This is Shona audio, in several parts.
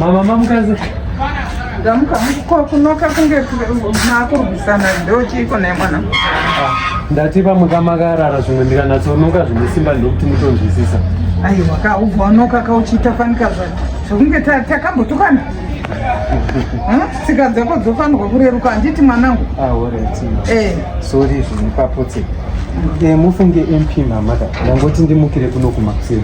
Mama mamukaze. Ndamuka kwa kunoka kunge makurwisana ndo chiiko naye mwana. Ah, ndati pamwe kamakarara zvimwe ndikanatsonoka zvine simba ndokuti mutonzwisisa. Aiwa ka ubva unoka ka uchiita fanika zvacho. Zvokunge takambotukana. Hm? Tsika dzako dzofanirwa kureruka handiti mwanangu. Ah, alright. Eh. Sorry zvimwe papotse. Eh, mufunge MP mama ka. Ndangoti ndimukire kuno kumakuseni.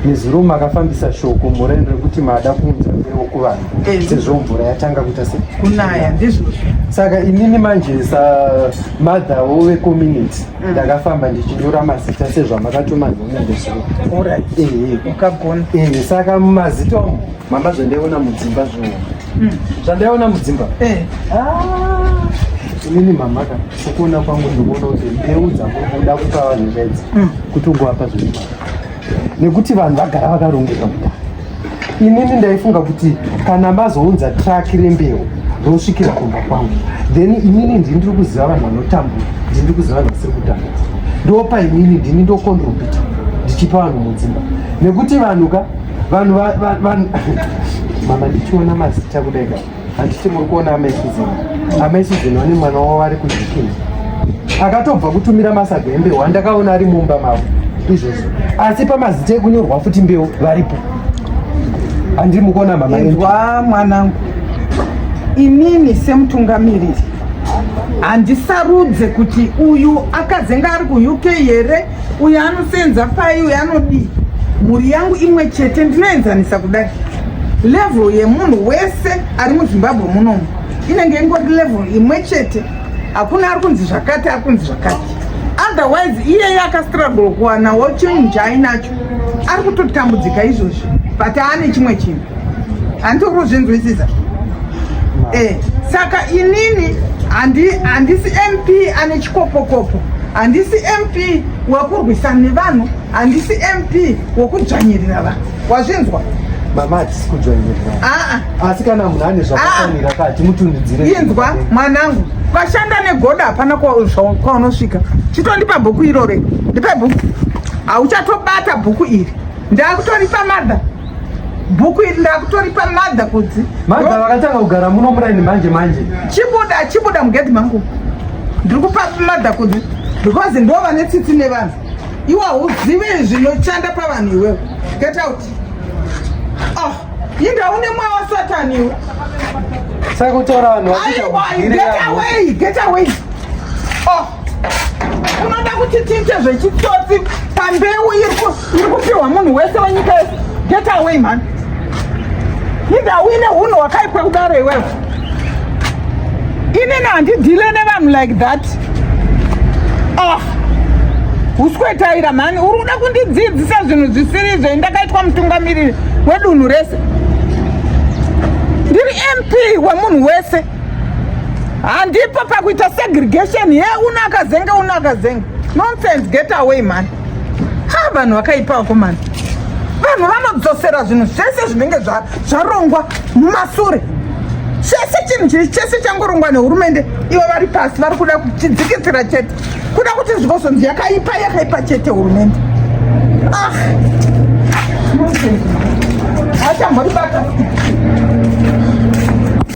Neziruma akafambisa shoko mureni rekuti maada kuunza mbeu kuvanhu eh. sezvo mvura yatanga kuita se kunaya ndizvozvo. Saka inini manje sa mother wevecommunity mm. ndakafamba ndichinyora mazita sezvamakatuma nhume ndezvo eh, eh. ukagona saka mumazita umu mambazondiona mudzimba zvoona Hmm. Zvandaiona mudzimba. Eh. Ah. Inini mama ka sokuona kwangu ndikuona kuti mbeu dzakuda kupa vanhu zvedzi hmm. kuti ungowapa zviri nekuti vanhu vagara vakarongeka kudai. Inini ndaifunga kuti kana mazounza truck rembeu rosvikira kumba kwangu then inini ndini ndiri kuziva vanhu vanotambura ndini ndiri kuziva vanhu vasiri kutambura ndopa inini ndini ndokondrobita ndichipa vanhu mudzimba nekuti vanhu ka vanhu mama ndichiona mazita kudai ka handiti muri kuona amai suzeni amai suzeni vane mwana wavo vari kuzvikini akatobva kutumira masaga embewu andakaona ari mumba mavo izvozvo asi pamazita ekunyorwa futi mbeu varipo handiri mukuona mama inzwa mwanangu inini semutungamiriri handisarudze kuti uyu akazenge ari kuuk here uyo anosenza pai uyo anodii mhuri yangu imwe chete ndinoenzanisa kudai level yemunhu wese ari muzimbabwe munomu inenge ingori level imwe chete hakuna ari kunzi zvakati ari kunzi zvakati otherwise iyeye akastruggle kuwana wochinhu chaainacho ari kutotambudzika izvozvi but aane chimwe chinhu handiti urikuzvinzwisisa eh, saka inini handisi mp ane chikopokopo handisi mp wekurwisana nevanhu handisi mp wekudzvanyirira vanhu wazvinzwa mama hatisi kudzvanyirira ah, ah. asi kana munhu ane zvakafanira ka timutundidzire inzwa mwanangu vashanda negoda hapana kwaunosvika chitondipa bhuku irore ndipe bhuku hauchatobata bhuku iri ndakutoripa madha bhuku iri ndakutoripa madha kudzi madha vakatanga kugara muno muraini manje manje chibuda chibuda mugedhi mangu ndiri kupa madha kudzi because ndo vane tsitsi nevanhu iwe hauzive zvinoshanda pavanhu iwewe get out oh inda une mweya wasatani iwe saka kutaura vanhu get away get away oh unoda kuti tiite zvechitsotsi pambeu iri iri kupiwa munhu wese wenyika yese get away man inda uine hunhu hwakaipwa kudaro iwewe inini handidhile nevanhu like that ah uskwetaira mhani uri kuda kundidzidzisa zvinhu zvisiri izvo indakaitwa mutungamiriri wedunhu rese ndiri mp wemunhu wese handipo pakuita segregation ye unakazenge unakazenge nonsense get away mhani ha vanhu vakaipa vakomana vanhu vanodzosera zvinhu zvese zvinenge zvarongwa mumasure chese chinhu chiri chese changorongwa nehurumende ivo vari pasi vari kuda kuchidzikisira chete kuda kuti zvikozonzi yakaipa yakaipa chete hurumende ah achambori bata